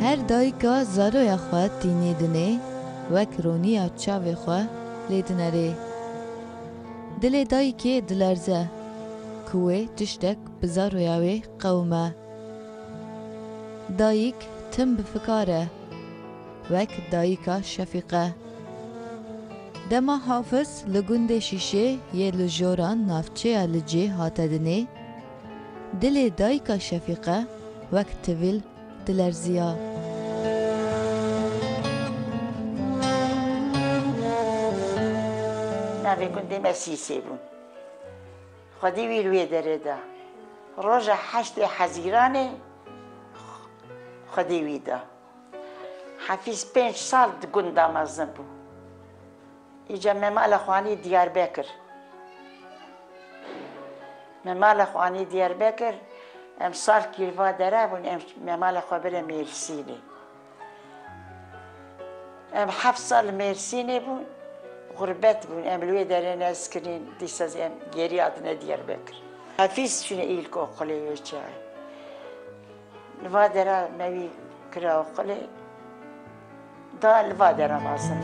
Her dayika zaroya xwe tînê dinê, wek roniya çavê xwe lê dinerê. Dilê dayikê dilerze, ku wê tiştek bi zaroya wê qewime. Dayik tim bi fikar e, wek dayika Şefîqe. Dema Hafiz li gundê Şîşê yê li jora navçeya Licê hate dinê, dilê dayika Şefîqe wek tivîl dilerziya. Navê gundê me Sîsê bû. Xwedî wî li wê derê da. Roja heştê hezîranê xwedî wî da. Hefîz pênc sal di gunda mezin bû. Îca me mala xwanî Diyarbekir. Me mala xwanî Diyarbekir, em sal kîrva dere bûn em me mala xwe bire Mêrsînê. Em heft sal li Mêrsînê bûn, xurbet bûn, em li wê derê nez kirîn, dîsa zî em gêrî hatine Diyarbekir. Hafîz çûne îlkokulê wê çaye. Li va dera me wî kira û xulê da li va dera mezin.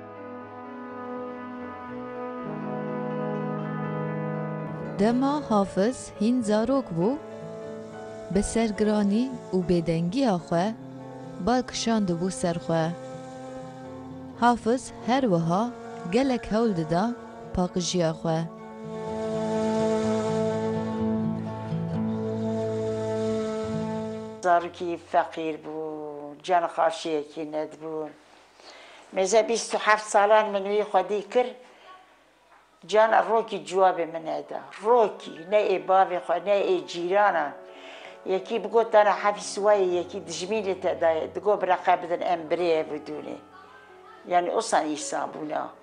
Dema Hafiz hîn zarok bû, bi sergiranî û bêdengiya xwe bal kişandibû ser xwe. Hafiz her wiha gelek hewl dida paqijiya xwe. Zarokî feqîr bû, canixaşiyekî nedibû. Mêze bîst û heft salan min wî xwedî kir, cana rokî ciwabê min neda. Rokî, ne ê bavê xwe, ne ê cîranan. Yekî bigot dana hefî siwayê, yekî dijmîn li te dayê, digot bireqe bidin em birêye bidûnê. Yanî osan îsan bûna.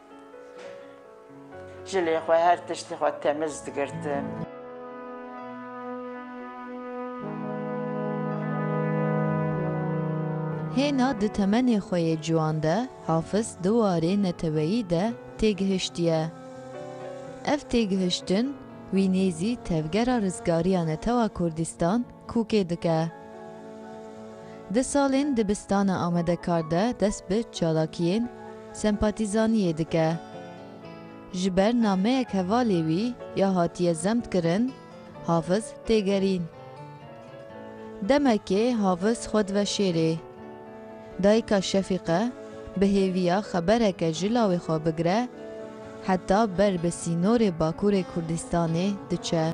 Ji lê xwe her tiştî xwe temiz digirtim. Hêna di temenê xwe yê ciwan de Hafiz di warê neteweyî de têgihiştiye. Ev têgihiştin wî nêzî tevgera rizgariya netewa Kurdistan Kûkê dike. Di salên dibistana amedekar de dest bi çalakiyên sempatîzaniyê dike. Ji ber nameyek hevalê wî ya hatiye zemtkirin, Hafiz tê gerîn. Demekê Hafiz xwe dive şêrê. Dayika Şefîqe bi hêviya xebereke ji lawê xwe bigire heta ber bi sînorê Bakurê Kurdistanê diçe.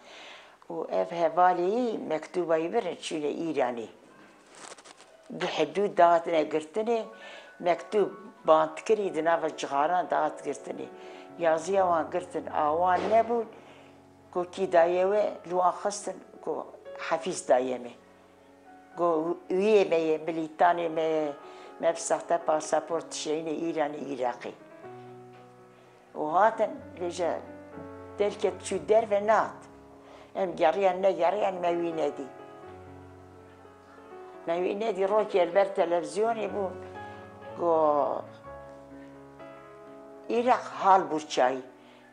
Û ev hevalî mektûba wî birin çûne Îranê. Bi hidû datine girtinê, mektûb band kirî di nava cixaran dihat girtinê. Yazîya wan girtin a wan nebûn got kî dayê we li wan xistin got Hefîz dayê me. Got wîyê me ye, milîtanê me ye, me bi sexte pasaport dişeyîne Îranê Îraqê. Û hatin lê ji derkê çû derve nehat. Em geriyan negeriyan me wî nedî. Me wî nedî rokê li ber televîzyonê bû got Îraq Halburçayî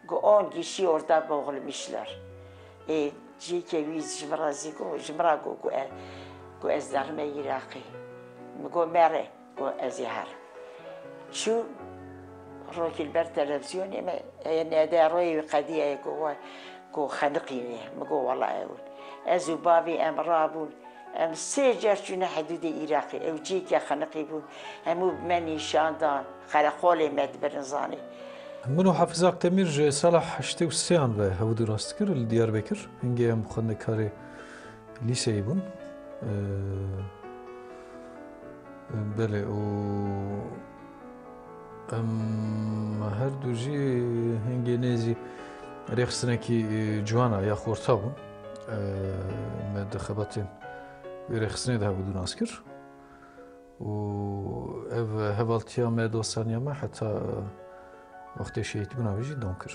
got on gişî orda boxlimişler. Ê cîkê wî ji min re zî got ji min re got ku ez derime Îraqê. Min got mere. Ku ez ê her çû rokî li ber televîzyonê me heye nêde royê wî qedî heye ku we ku xeniqînê min got wela ew in. Ez û bavê em rabûn em sê car çûne hedûdê Îraqê ew cihêkê xeniqî bûn hemû bi me nîşan dan xereqolê me di birinzanê. Min û Hafiz Akdemîr ji sala heştê û sêyan ve hewdî rast dikir li Diyarbekir hingê em xwendekarê lîseyê bûn. Belê û em her du jî hingê nêzî rêxistinekî ciwan a ya xorta bû me di xebatên wê rêxistinê de hebû dû nas kir û ev hevaltiya me dostaniya me heta wextê şehîdbûna wî jî dom kir.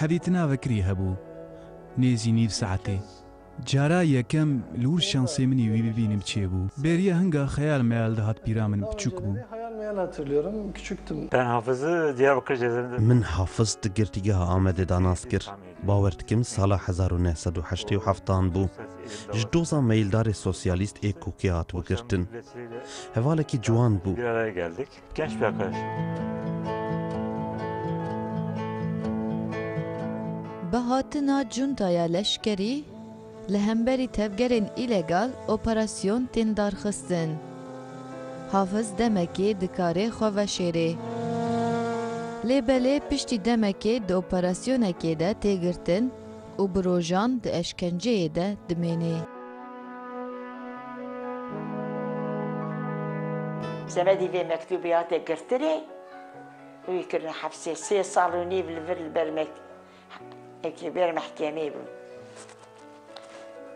Hevî tina vekirî hebû nêzî nîv saetê. Cara yekem li wir şansê min î wî bibînim çêbû. Bêriya hinga xeyal meyal dihat pîra min piçûk bû. Min Hafiz di Girtîgeha Amedê de nas kir. Bawer dikim sala hezar û neh sed û heştê û heft an bû. Ji doza meyildarê sosyalîst ê kokê hatibû girtin. Hevalekî ciwan bû. Keş be keş. Bi hatina cuntaya leşkerî li hemberî tevgerên îlegal operasyon tên darxistin. Hafiz demekê di karê xwe veşêrê. Lê belê piştî demekê di operasyonekê de tê girtin, û bi rojan di eşkenceyê de dimênê. Semedî vê mektûbê hate girtinê û wî kirine hepsê. Sê sal û nîv li vir li ber li ber mehkemê bû.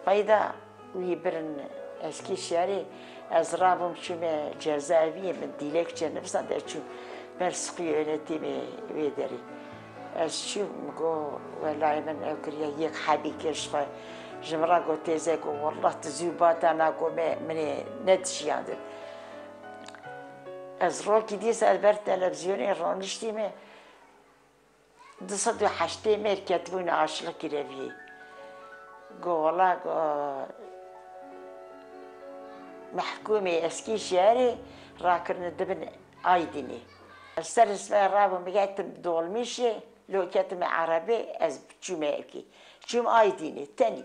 Wayda. Wî birin ez kî şerê. Ez rabûm çûme cezaeviyê min dîlekçe nivîsa de çûm ber siqî êretîmê wê derê. Ez çûm min got welayê min ew kiriye yek hebî kir ji xwe. Ji min re got têze got wallah tu zû bata na got me min ê nedişiyandin. Ez rokî dîsa li ber televîzyonê roniştîme Du sed û heştê mêr ketibûne aşiqî kireviyê. Got wela got mehkûmê eskî şerê rakirine di bin Aydinê. Ez serê sibehê rabûm biketim dolmîşê, lo ketime erebê ez çûme yekê. Çûm Aydinê tenê.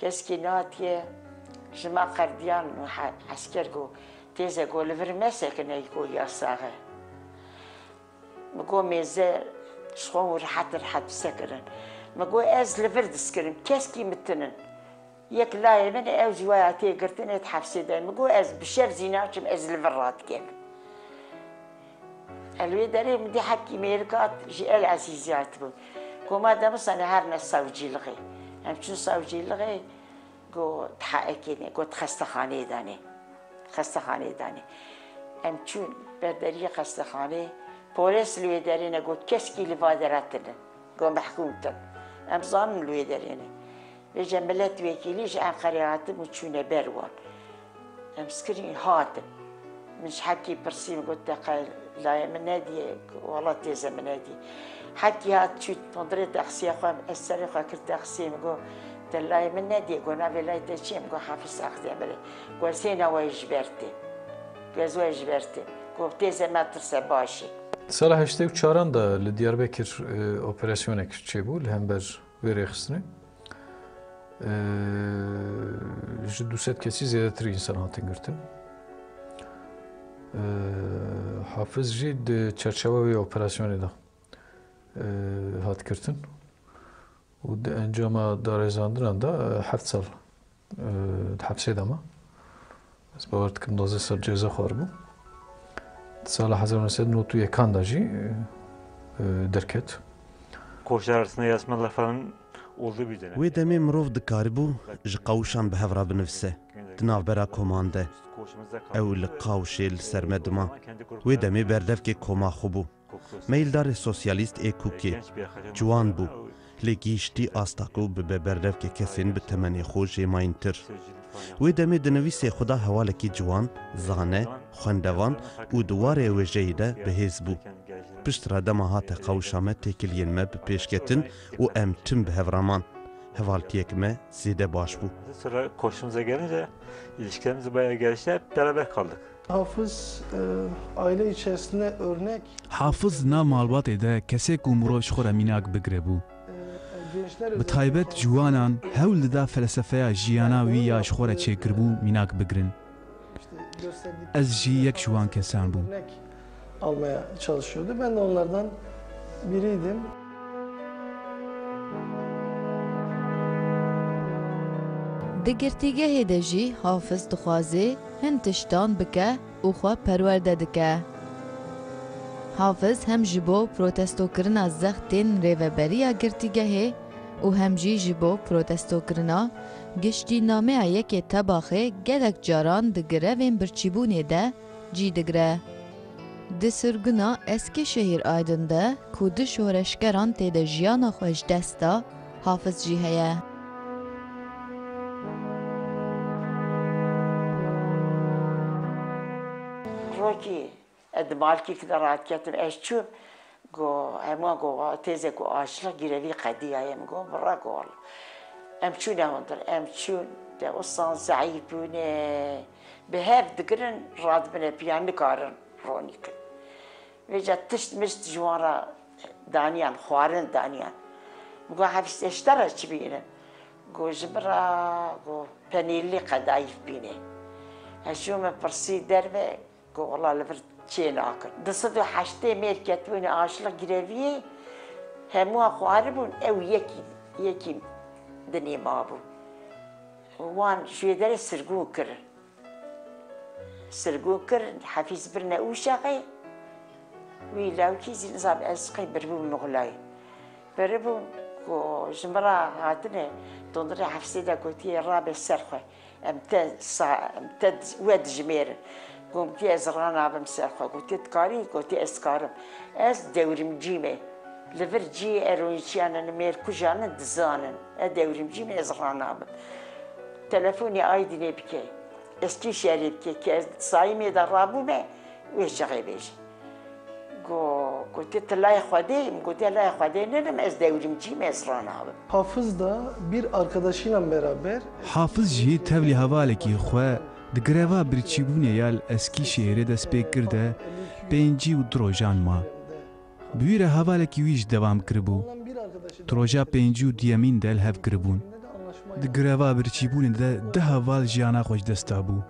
Keskî nihatiye ji ma qerdiyan esker ku têze ku li vir me sekine yî ku ya sax e. Min got mêze ji xwe hûn rehet rehet bi sekirin. Min got ez li vir diskirim keskî min tinin. Yek layê min ew ji waya tê girtine di hefsê de ye. Min got ez bi şev zî naçim ez li vir radigerim. Li wê derê min dê Hekî Mêrgat jî El Ezîzîyay tibû. Ku me demsane her ne sewcîlixê. Em çûn sewcîlixê ku THEK'ê ne got xestexaneyê de ne. Xestexaneyê de ne. Em çûn ber deriyê xestexaneyê, polês li wê derê ne got keskî li va dere tune. Got mehkûm tune. Em zanin li wê derê ne. Îja miletvekîlî ji Enqerê hatin û çûne ber wan. Em skirîn hatin. Min ji Hekî pirsî min got te qey layê min nedîyê? Wala têze min nedî. Hekî hat çû tundrê texsîya xwe ez serê xwe kir texsîyê min got te layê min nedîyê got navê layê te çi ye? Min got Hafiz Axdemirê. Got ez hêna wayî ji ber têm. Got ez wayî ji ber têm. Got têze me tirse baş î. Di sala heştê û çaran de li Diyarbekir operasyonek çêbû li hember Vê rêxistinê ji du sed kesî zêdetir însan hatin girtin. Hafiz jî di çerçewa wê operasyonê de hat girtin û di encama darêzandinan de heft sal Di hepsê de ma. Ez bawer dikim duwazdeh sal ceza xwaribû. Di sala hezar û neh sed û newt û yekan de jî derket. Koçber Arslan Yasmin Referan oldu bir dönem. Wê demê mirov dikaribû ji qawişan bi hev re binivise. Di navbera koman de ew li qawişê li ser me dima. Wê demê berdevkê koma xwe bû. Meyildarê sosyalîst ê Kûkê ciwan bû, lê gihîştî asta ku bibe berdevkê kesên bi temenê xwe jê mayîntir. Wê demê dinivîsê xwe da hewalekî ciwan, zane, xwendevan û di warê wêjeyê de bihêz bû. Pişt re dema hate qewişa me têkiliyên me bi pêş ketin û em tim bi hev re man. Hevaltiyek me zêde baş bû. Hafiz, aileyê Çesne örnek. Hafiz, na malbatê de kesê ku mirov ji xwe re mînak bigire bû. Bi taybet ciwanan hewl dida felsefeya jiyana wî ya ji xwe re çêkiribû mînak bigirin. Ez jî yek ji wan kesan bûm. almaya çalışıyordu. Ben de onlardan biriydim. Di girtîgehê de jî Hafiz dixwazê hin tiştan bike û xwe perwerde dike. Hafiz hem ji bo protestokirina zextên rêveberiya girtîgehê û hem jî ji bo protestokirina giştî nameya yekê Tebaxê gelek caran di grevên birçîbûnê de Cî digre. Di sirguna Eskişehîr Aydin de ku du şoreşgeran tê de jiyana xwe ji dest da, Hafiz jî heye. Rokî, ez di malkîkî de raketim, ez çûm got hemû an got wa têze ku açlik gîre vî qedîya ye, min got bira got wala. Em çûne hundir, em çûn, dewsan zeîf bûne. Bi hev digirin radibine piyan nikarin ronî kin. Vêca tişt mişt ji wan re daniyan, xwarin daniyan. Got hevîstê ji te re çi bîne? Got ji min re got penîrlî qedayîf bîne. Heşû min pirsî derve Gola li vir çê nakin. Di sed û heştê mêr ketibûne aşilî greviyê, hemû an xwaribûn, ew yekî yekî dinê mabû. Wan ji wê derê sirgûn kir. Sirgûn kir, Hefîz birine Ûşexê, wî lewkî zî nizam ez qey biribûm Muxlay. Biribûm ku ji min re hatine, dondina Hefizê de gotiye rabe ser xwe. Em te sa em te we dijimêrin. Gomtî ez ra nabim ser xwe. Gotî tu karî? Gotî ez karim. Ez dewrimcî me. Li vir cî eroyînçiyan in, mêrkujan in, dizan in. Ez dewrimcî me, ez ra nabim. Telefonê Aydinê bike. Ez kî şerê bike ke ez di Saîmê de rabûme, wê ji xwe bêje. Gotiye tu laya Xwedê yî, min gotiye laya Xwedê nîne, min ez dewilîm cî me ez ranabim. Hafiz da bir arkedaşînan beraber. Hafiz jî tevlî hevalekî xwe di greva birçîbûnê ya li Eskîşehîrê dest pê kir de pêncî û du rojan ma. Bi wî re hevalekî wî jî devam kiribû. Di roja pêncî û duyemîn de li hev kiribûn. Di greva birçîbûnê de du heval jiyana xwe ji dest dabû.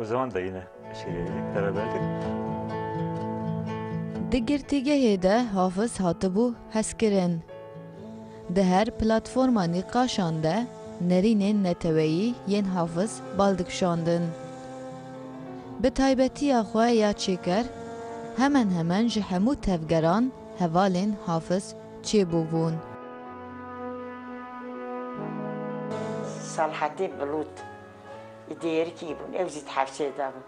O zaman da yine şeyle yedik, beraberdik. Di girtîgehê de Hafiz hatibû hezkirin. Di her platforma nîqaşan de nerînên neteweyî yên Hafiz bal dikişandin. Bi taybetiya xwe ya çêker hemen hemen ji hemû tevgeran hevalên Hafiz çêbûbûn. Salhatî Bilut Li Dêrikî bûn, ew jî di hevşê de bûn.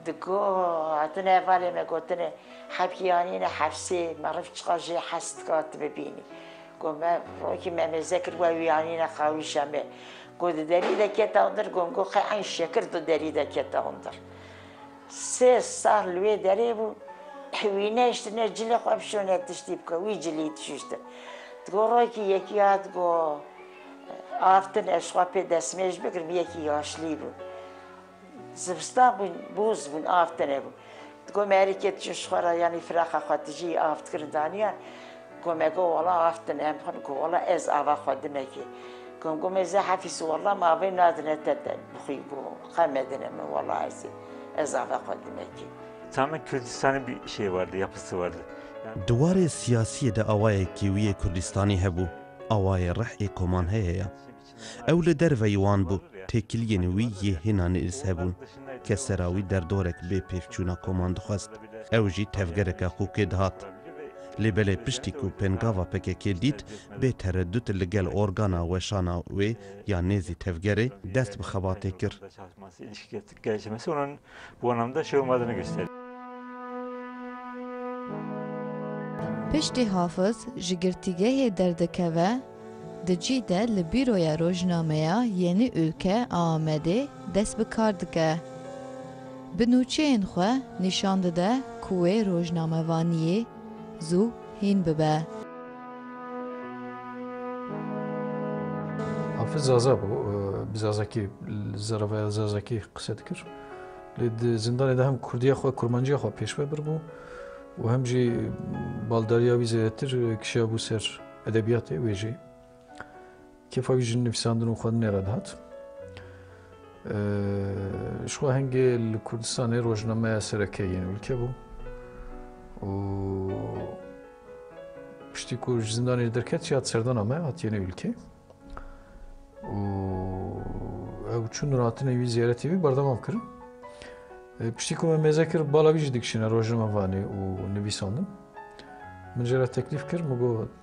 Di got, hatine hevalên me gotine, Hevkî anîne hevşê, meriv çiqas jê hes dika tu bibînî. Got, me rokî me mêze kir we wî anîne qawîşa me. Got, di derî de kete hundir, got, got qey eyn şekir di derî de kete hundir. Sê sal li wê derê bû, wî nehiştine cilê xwe bişone tiştî bike, wî cilî dişuştin. Di got, rokî yekî hat got, Av tune ez xwe pê destmêj bigirim yekî yaşlî bû. Zivistan bû boz bûn av tune bû. Di got me herî kê dijîn ji xwe re yanî firaqa xwe dijî av dikirin daniyan. Got me got wala av tune em xwe got wala ez ava xwe dime kê. Got got me zeh Efîs wala me avê nadine te te bixwî got qe medine min wala ezê ez ava xwe dime kê. Çamek Kurdistanê bî şê werde ya pisi werde. Di warê siyasiyê de awayekî wî yê Kurdistanî hebû. Awayê rih ê koman heye ya. Ew li derveyî wan bû, têkiliyên wî yê hêna nêrîz hebûn. Ke sera wî derdorek bê pêkçûna koman dixwest, ew jî tevgereke xûkê dihat. Lê belê piştî ku pêngava pkk dît bê teredût li gel organa weşana wê ya nêzî tevgerê dest bi xebatê kir. Gelişemezînan bi wan namda şêwa ma de nigihişte. Piştî Hafiz ji girtîgehê derdikeve, di cih de li Bîroya Rojnameya Yenî Ülke a Amedê dest bi kar dike. Bi nûçeyên xwe nîşan dide ku wê rojnamevaniyê Zû hîn bibe. Hafiz Zaza bû. Bi Zazakî li zerevaya Zazakî qise dikir. Lê di zindanê de hem Kurdiya xwe, Kurmanciya xwe pêşve birbû û hem jî baldariya wî zêdetir kişiyabû ser edebiyatê wê jî. Kêfa wî ji nivîsandinên xwe nê re dihat. Ji xwe hingê li Kurdistanê rojnameya sereke yên ûlke bû û piştî ku ji zindanê li derket jî hat serdana me hatiye nê ûlkê û ew çûn ratinê wî ziyaretê wî berdewam kirin. Piştî ku me mêze kir bala wî jî dikişîne rojnamevanê û nivîsandin. Min jê re teklîf kir min got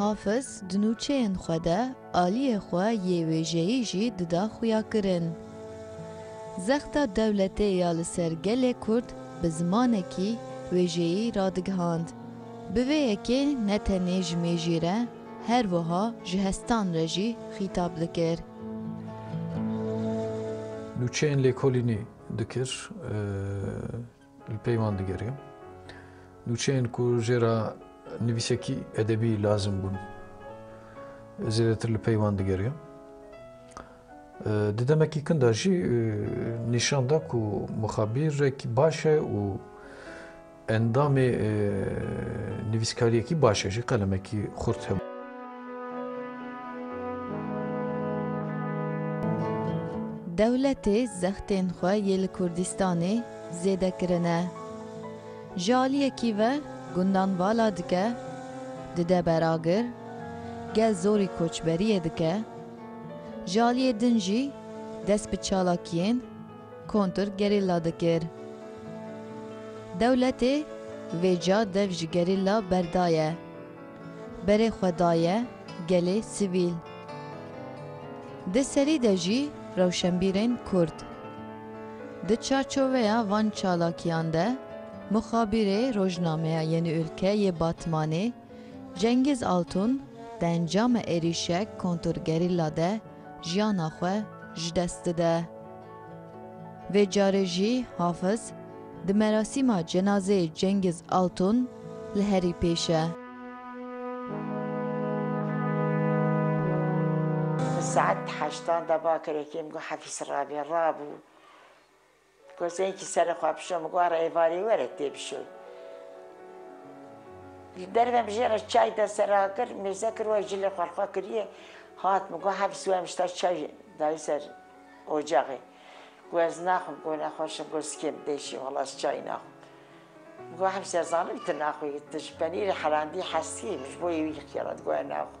Hafiz di nûçeyên xwe de aliyê xwe yê wêjeyî jî dida xuyakirin. Zexta dewletê ya li ser gelê Kurd bi zimanekî wêjeyî radigihand. Bi vê yekê ne tenê ji mêjî re her wiha ji hestan re jî xîtab dikir. Nûçeyên lêkolînî dikir. Li pey wan digeriya nûçeyên ku jê re nivîsekî edebî lazim bûn zêdetir li pey wan digeriya. Di demekî kin de jî nîşan da ku mixabîrek baş e û endamê nivîskariyekî baş e jî qelemekî xurt hebû. Dewletê zextên xwe yê li Kurdistanê zêde kirine. Ji aliyekî ve gundan vala dike, dide beragir, gel zorî koçberiyê dike, ji aliyê din jî dest bi çalakiyên kontr gerîlla dikir. Dewletê vê ca dev ji gerîlla berdaye. Berê xwe daye gelê sivîl. Di serî de jî rewşenbîrên Kurd. Di çarçoveya van çalakiyan de muxabîrê rojnameya Yeni Ülke yê Batmanê Cengiz Altun di encama êrîşek kontrgerîlla de, jiyana xwe ji dest dide. Vê carê jî Hafiz di merasîma cenazeyê Cengiz Altun li herî pêş e. Saet heştan da bakirê kêm ku Hefîz rabe, rabû. Kurseyekî serê xwe bişo min got ara êvarê were tê bişoy. Li derve min jê re çay de ser a kir, mêze kir we jilê xwe li xwe kiriye. Hat min got hebs we mişta çay dayê ser ocaxê. Got ez naxwim got nexweş im got sikê min têşî wala ez çay naxwim. Min got hebs ez zanim tu naxwî tu ji penîrê herandî hestiyî min ji bo yê wî xêrat got ez naxwim.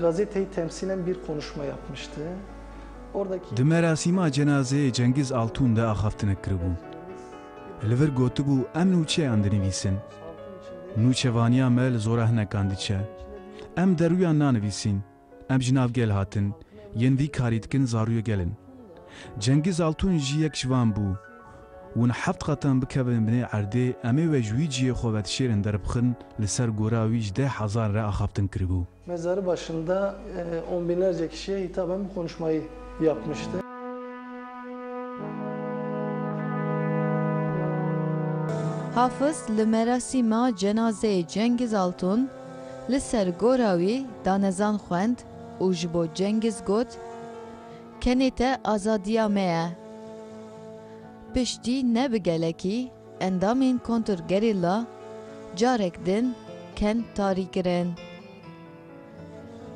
Gazeteyi temsilen bir konuşma yapmıştı. Oradaki. Di merasîma cenazeyê Cengiz Altun de axaftinek kiribû. Li vir gotibû em nûçeyan dinivîsin. Nûçevaniya me li zorahinekan diçe. Em deruyan nanivîsîn, em ji nav gel hatin, yên vî karî dikin zarûyê gel in. Cengiz Altun jî yek ji wan bû. Hûn heft qatan bikevin binê erdê, em ê we ji wî cihê xwe vedişêrin derbixin, li ser gora wî ji deh hezar re axaftin kiribû. Mezarı başında on binlerce kişiye hitaben bu konuşmayı yapmıştı. Hafız li merasîma cenazeyê Cengiz Altun li ser gora wî danezan xwend û ji bo Cengiz got, Kenê te azadiya me ye. Piştî ne bi gelekî endamên kontrgerîlla carek din ken tarî kirin.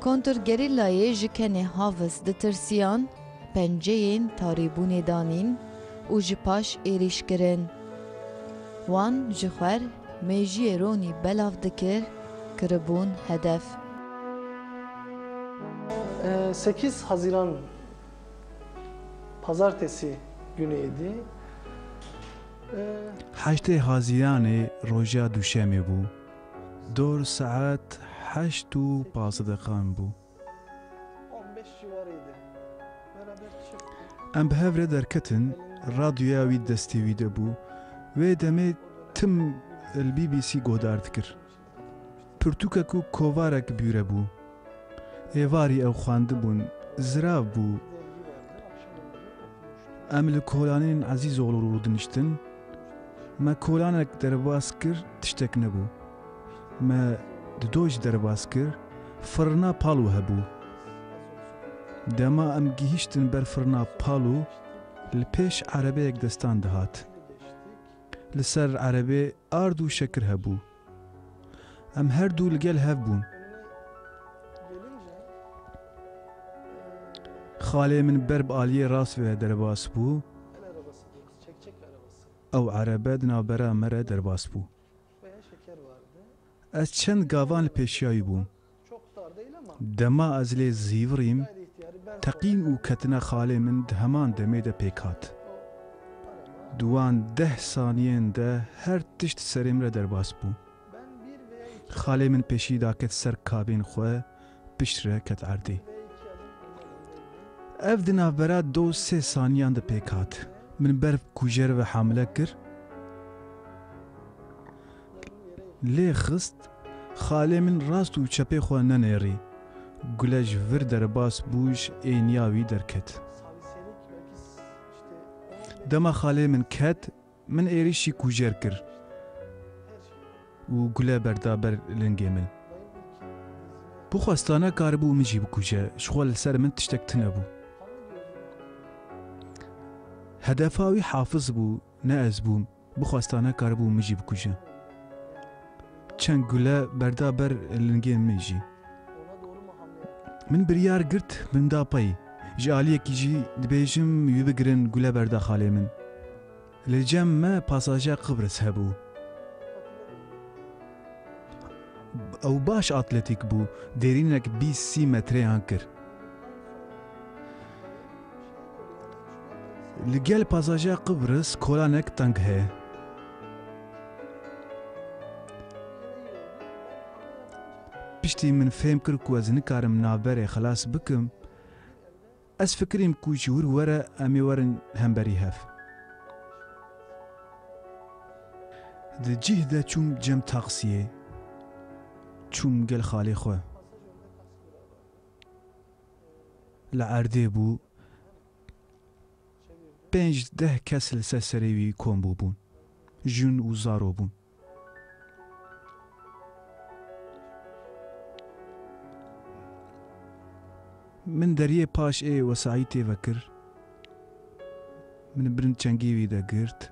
Kontrgerîllayê ji kenê Havis ditirsiyan penceyên tarîbûnê danîn û ji paş êrîş kirin. Wan ji xwer Mejiyê Ronî belav dikir, kiribûn hedef. Sekîz Hezîran Pazartesî günê êdî. Heştê Hezîranê roja Duşemê bû. Dor saet heşt û pazdeh deqan bû. Em bi hev re derketin, radyoya wî destê wî de bû, wê demê tim li BBC guhdar dikir. Pirtûkek û kovarek bûre bû. Êvarî ew xwendibûn, zirav bû. Em li kolanên Ezîzoglû rûdiniştin, me kolanek derbas kir, tiştek nebû. Me di doj derbas kir, firina Palu hebû. Dema em gihîştin ber firina Palu, li pêş erebeyek destan dihat. Li ser erebê ard û şekir hebû. Em her du li gel hev bûn. Xalê min ber bi aliyê rast ve derbas bû. Ew erebe di navbera me re derbas bû. Ez çend gavan li pêşiyayî bûm. Dema ez lê zîvirîm, teqîn û ketina xalê min di heman demê de pêk hat. Di wan deh saniyên de her tişt serê min re derbas bû. Xalê min pêşî daket ser kabên xwe, pişt re ket erdê. Ev di navbera do sê saniyan de pêk hat. Min ber kujer ve hamile kir. Lê xist. Xalê min rast û çepê xwe nenêrî. Gule ji vir derbas bû ji êniya wî derket. Dema xalê min ket Min êrîşî kûjer kir û gule berda ber lingê min. Bixwesta nekaribû min jî bikuje, ji xwe li ser min tiştek tune bû. Hedefa wî Hafiz bû, ne ez bûm, bixwesta nekaribû min jî bikuje. Çend gule berda ber lingên min jî. Min biryar girt min da pey. Ji aliyekî jî dibêjim wî bigirin gule berda xalê min. Li cem me pasajer Qibris hebû. Ew baş atletîk bû, dêrînek bîst sî metreyan kir. Li gel pasajer Qibris kolanek teng heye. Piştî min fêm kir ku ez nikarim navberê xilas bikim, ez fikirîm ku ji wir were em ê werin hemberî hev. Di cih de çûm cem taksiyê, çûm gel xalê xwe. Li erdê bû. Pênc deh kes li ser serê wî kom bûbûn. Jûn û zaro bûn. Min deriyê paş ê wesayî tê vekir. Min bin çengî wî de girt.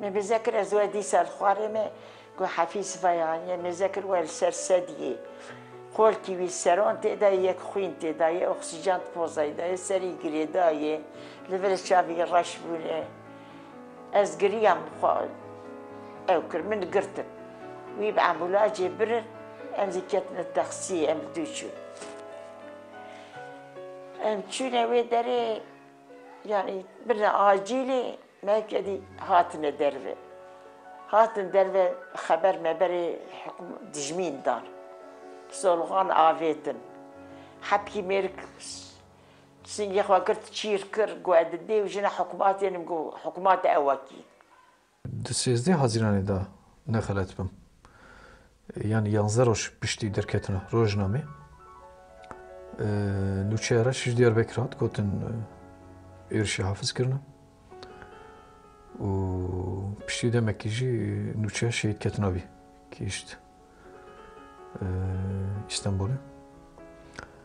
Me mêze kir ez we dîsa li xwarê me ku Hefî sivaya anîye mêze kir we li ser sediyê xolkî wî seron tê de ye yek xwîn tê de ye oksîjen di pozayî de ye serî girêda ye li vir çavî reş bûne ez giriyam xwe ew kir min girtin wî bi embûlajê birin em zî ketin li texsiyê em li dû çûn em çûne wê derê yanî birine acîlê Me kedî hatine derve. Hatin derve xeber meberê dijmîn dan. Solixan avêtin. Hepkî mêrik singê xwe kir çîr kir ku ez di dêw jina hikûmatê nim ku hikûmate ewekî. Di sêzdeh Haziranê de ne xelet bim. Yanî yanze roj piştî derketina rojnamê nûçeya reş ji Diyarbekir hat gotin êrişê hafiz kirine û piştî demekî jî nûçeya şehîd ketina bî kişt İstanbul'u.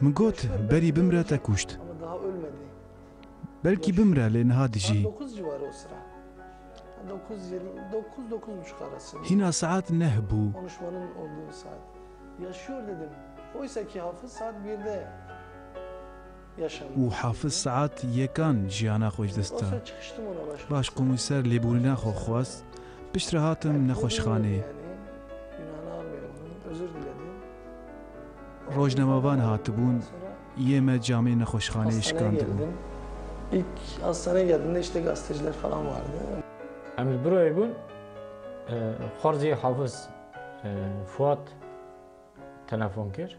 Min got berî bimre te kuşt. Belkî bimre lê niha dijî. Hîna saet neh bû. û Hafiz Sead yekan jiyana xwe ji dest da. Başkomîser lêbûrîna xwe xwest, piştre hatim nexweşxanê. Rojnamevan hatibûn, yê me camê nexweşxaneyê şikandibûn. Em li birayê bûn, xwarzê Hafiz Fuad telefon kir.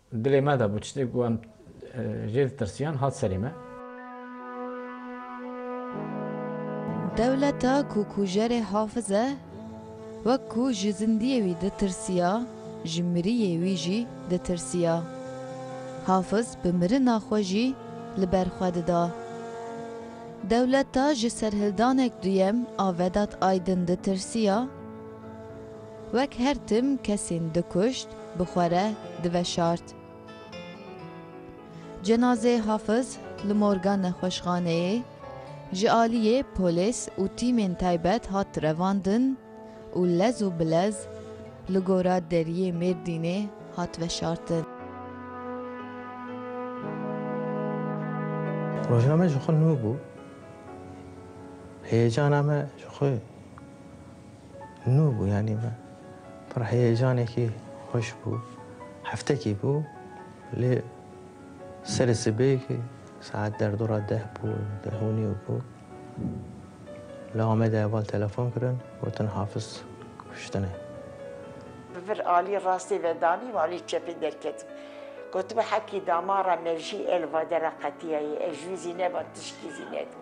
Dilê me de bû tiştê ku em jê ditirsiyan hat serê me. Dewleta ku kujerê Hafiz e, wek ku ji zindiyê wî ditirsiya, ji miriyê wî jî ditirsiya. Hafiz bi mirina xwe jî li ber xwe dida. Dewleta ji serhildanek duyem a Vedat Aydin ditirsiya. Wek her tim kesên dikuşt, bi xwe re diveşart. Cenazeyê Hafiz li morga nexweşxaneyê ji aliyê polês û tîmên taybet hat revandin û lez û bilez li gora deriyê Mêrdînê hat veşartin. Rojname ji xwe nû bû. Heyecana me ji xwe Nû bû yanî me pir heyecanekî xweş bû. Heftekî bû lê serê sibêkî saet derdora deh bû, deh û nîw bû. Li Amedê heval telefon kirin gotin Hafiz kuştine. Bi vir alî rastê ve danî û alî çepê derketim. Gotibû hekî damara me jî el vadera qetiyayê, ez jû zî neba tişkî zî nedim.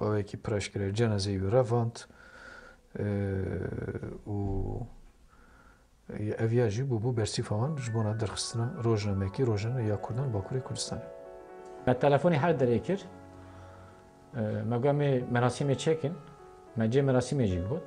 Bavekî pireşkirê cenezeyê wî revand û ev ya jî bûbû bersîfa wan ji bona derxistina rojnameyekî rojane ya Kurdan Bakurê Kurdistanê. Me telefonê her derê kir. Me got me merasîmê çekin. Me cê merasîmê jî got.